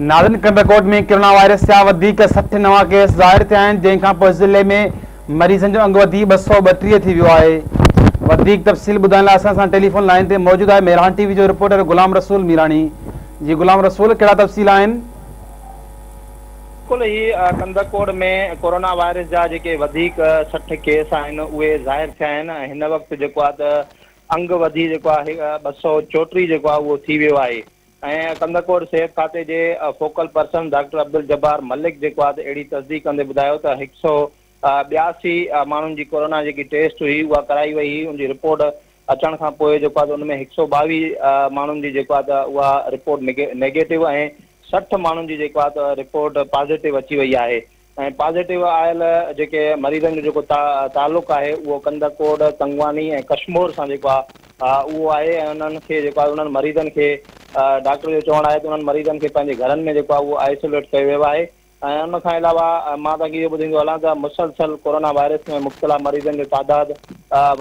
Northern Kandhkot ۾ corona virus جا وڌيڪ سٺ نوان ڪيس ظاهر ٿيا آهن جنهن کانپوء ضلعي ۾ مريضن جو انگ وڌي ٻه سؤ ٻٽيهه ٿي ويو آهي وڌيڪ تفصيل ٻڌائڻ لاء اسان سان ٽيليفون لائين تي موجود آهي مهراڻ ٽي وي جو رپورٽر غلام رسول ميراڻي جي غلام رسول ڪهڙا تفصيل آهن بلڪل هي ڪنڊرڪوٽ ۾ ڪرونا وائرس جا جيڪي وڌيڪ سٺ ڪيس آهن اهي ظاهر ٿيا آهن هن وقت جيڪو آهي ته انگ وڌي جيڪو آهي ٻه سؤ چوٽيهه جيڪو آهي اهو ٿي ويو آهي ۽ ڪنڌڪوٽ صحت کاتي جي focal person doctor Abdul Jabbar Malik جيڪو آھي ته اھڙي تصديق ڪندي ٻڌايو ته ھڪ سؤ ٻياسي ماڻھن جي ڪورونا جيڪي ٽيسٽ ھئي اھا ڪرائي وئي ھئي ان جي رپورٽ اچڻ کان پوء جيڪو آھي ته ان ۾ ھڪ سؤ ٻاويھه ماڻھن جي جيڪو آھي ته اھا رپورٽ نيگيٽو ۽ سٺ ماڻھن جي جيڪو آھي ته رپورٽ پازيٽو اچي وئي آھي ۽ پازيٽو آيل جيڪي مريضن جو جيڪو تعلق آهي اهو ڪنڌڪوٽ، تنگواني ۽ ڪشمور سان جيڪو آهي اهو آهي ۽ انهن کي جيڪو آهي انهن مريضن کي ڊاڪٽر جو چوڻ آهي ته انهن مريضن کي پنهنجي گهرن ۾ جيڪو آهي اهو آئسوليٽ ڪيو ويو آهي ۽ ان کان علاوه مان توهان کي اهو ٻڌائيندو هلان ته مسلسل ڪورونا وائرس ۾ مبتلا مريضن جو تعداد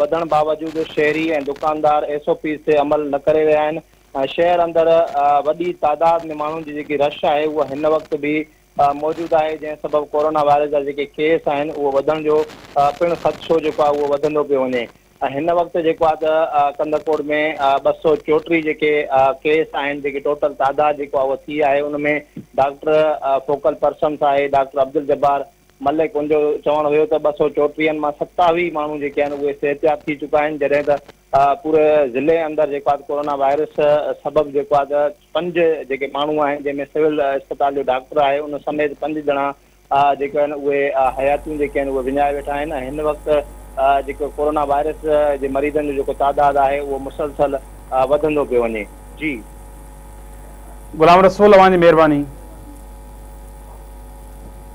وڌڻ باوجود شهري ۽ دڪاندار ايس او پيز تي عمل نه ڪري رهيا آهن ۽ شهر اندر وڏي تعداد ۾ ماڻهن جي جيڪي رش آهي اها هن وقت به موجود آهي جنهن سبب ڪورونا وائرس جا جيڪي ڪيس آهن اهو وڌڻ جو پڻ خدشو جيڪو آهي اهو وڌندو پيو وڃي هن وقت جيڪو آهي ته ڪنڌڪوٽ ۾ ٻه سؤ چوٽيهه جيڪي ڪيس آهن جيڪي ٽوٽل تعداد جيڪو آهي اهو ٿي آهي ان ۾ ڊاڪٽر فوڪل پرسنس آهي ڊاڪٽر عبد الجبار ملڪ ان جو چوڻ هيو ته ٻه سؤ چوٽيهن مان ستاويهه ماڻهو جيڪي آهن اهي صحتياب ٿي چڪا آهن جڏهن ته پوري ضلعي اندر جيڪو آهي ڪورونا وائرس سبب جيڪو آهي ته پنج جيڪي ماڻهو آهن جنهن ۾ سول اسپتال جو ڊاڪٽر آهي ان سميت پنج ڄڻا جيڪي آهن اهي حياتيون جيڪي آهن اهي وڃائي ويٺا آهن ۽ هن وقت جيڪو ڪورونا وائرس جي مريضن جو جيڪو تعداد آهي اهو مسلسل وڌندو پيو وڃي جي غلام رسول اوهان جي مهرباني.